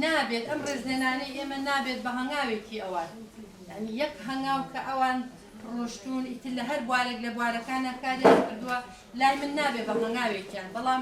نابێت ئەم ڕێزلێنانەی ئێمە نابێت بە هەنگاوێکی ئەوان یانی یەک هەنگاو کە ئەوان ڕۆشتون ئیتر لە هەر بوارێک لە بوارەکانە کاریان کردووە لای من نابێت بە هەنگاوێکیان بەڵام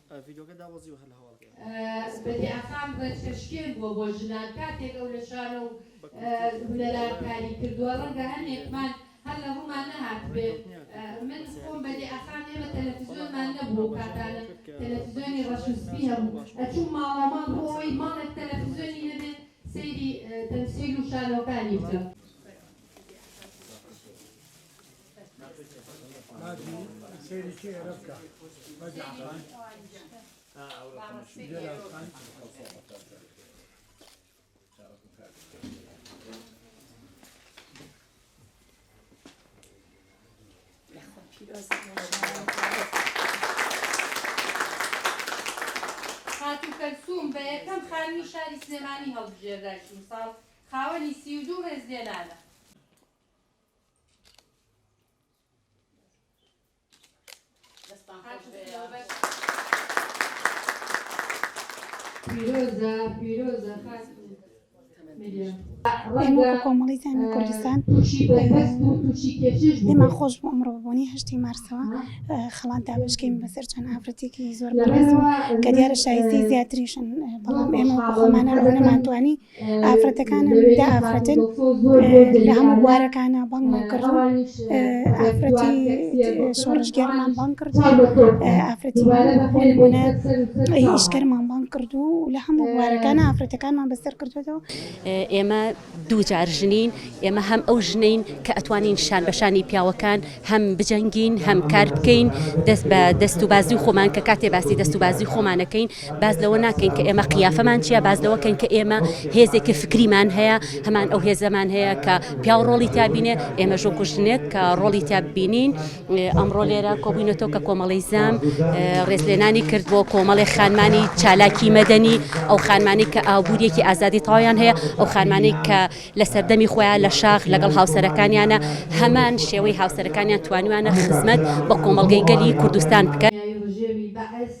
ڤیدۆکە دابەزی و هەر لە هەواڵەکەی ئەمڕۆ. بەدی ئاخان ڕێچکەشکێن بووە بۆ ژنان کاتێک ئەو لە شانۆ و هونەرا کاری کردووە، ڕەنگە هەنێکمان هەر لە ڕوومان نەهاتبێ، من خۆم بەدی ئاخان ئێمە تەلەفزیۆنمان نەبوو ئەو کاتانە، تەلەفزیۆنی ڕەش و سپی هەبوو، ئەچووم ماڵەماڵ بۆ ئەوەی ماڵێک تەلەفزیۆنی نەبێت سەیری تەمسیل و شانۆکانی بکەم. خاتوو کەلسووم بە یەکەم خانمی شاری سلێمانی هەڵبژێردای ئیمساڵ خاوەنی سی و دوو ڕێزلێنانە. کۆمەڵی زانانی کوردستان لێمان خۆش بۆ ئەمڕۆ بوونی هەشتی مارسەوە خڵات دابشکین بەسەر چەند ئافرەتێکی زۆر بەڕێز و کە دیارە شایستی زیاتریشن بەڵام ئێمە خۆمانە ڕۆ نەمانتوانی ئافرەتەکانم دە ئافرەتن لە هەموو بوارەکانە بانگمان کردووە ئافرەتی شۆڕشگێڕمان بانگ کردووە ئافرەتی بۆی بۆنە ئیشکەرمان بانگ کردو و لە هەموو بوارەکانە ئافرەتەکانمان بەسەر کردوێتەوە ئێمە دووجار ژنین ئێمە هەم ئەو ژنین کە ئەتوانین شان بەشانی پیاوەکان هەم بجەنگین هەم کار بکەین دەست بە دەست و بازوی خۆمان کە کاتێ باسی دەست و بازوی خۆمانەکەین باس لەوە ناکەین کە ئێمە قیافەمان چیە باس لەوە کەین کە ئێمە هێزێکی فکریمان هەیە هەمان ئەو هێزەمان هەیە کە پیاو ڕۆڵی تابینێ ئێمە ژۆ کوژنێک کە ڕۆڵی تابینین ئەمڕۆ لێرە کۆبووینەتەوە کە کۆمەڵی زام ڕێزلێنانی کرد بۆ کۆمەڵی خانمانی چالاکی مەدەنی ئەو خانمانی کە ئابووریەکی ئازادی تاویان هەیە ئەو خانمانی کە لە سەردەمی خۆیان لە شاخ لەگەڵ هاوسەرەکانیانە هەمان شێوەی هاوسەرەکانیان توانیویانە خزمەت بە کۆمەڵگەی گەلی کوردستان بکەن. دوای ڕژێمی بەعس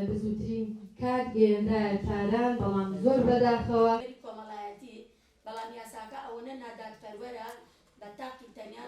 بزووترین کات گەیەنرایە تاران، بەڵام زۆر بەداخەوە. کۆمەڵایەتی، بەڵام یاساکە ئەوەنە نادادپەروەرە بە تاقی تەنیا.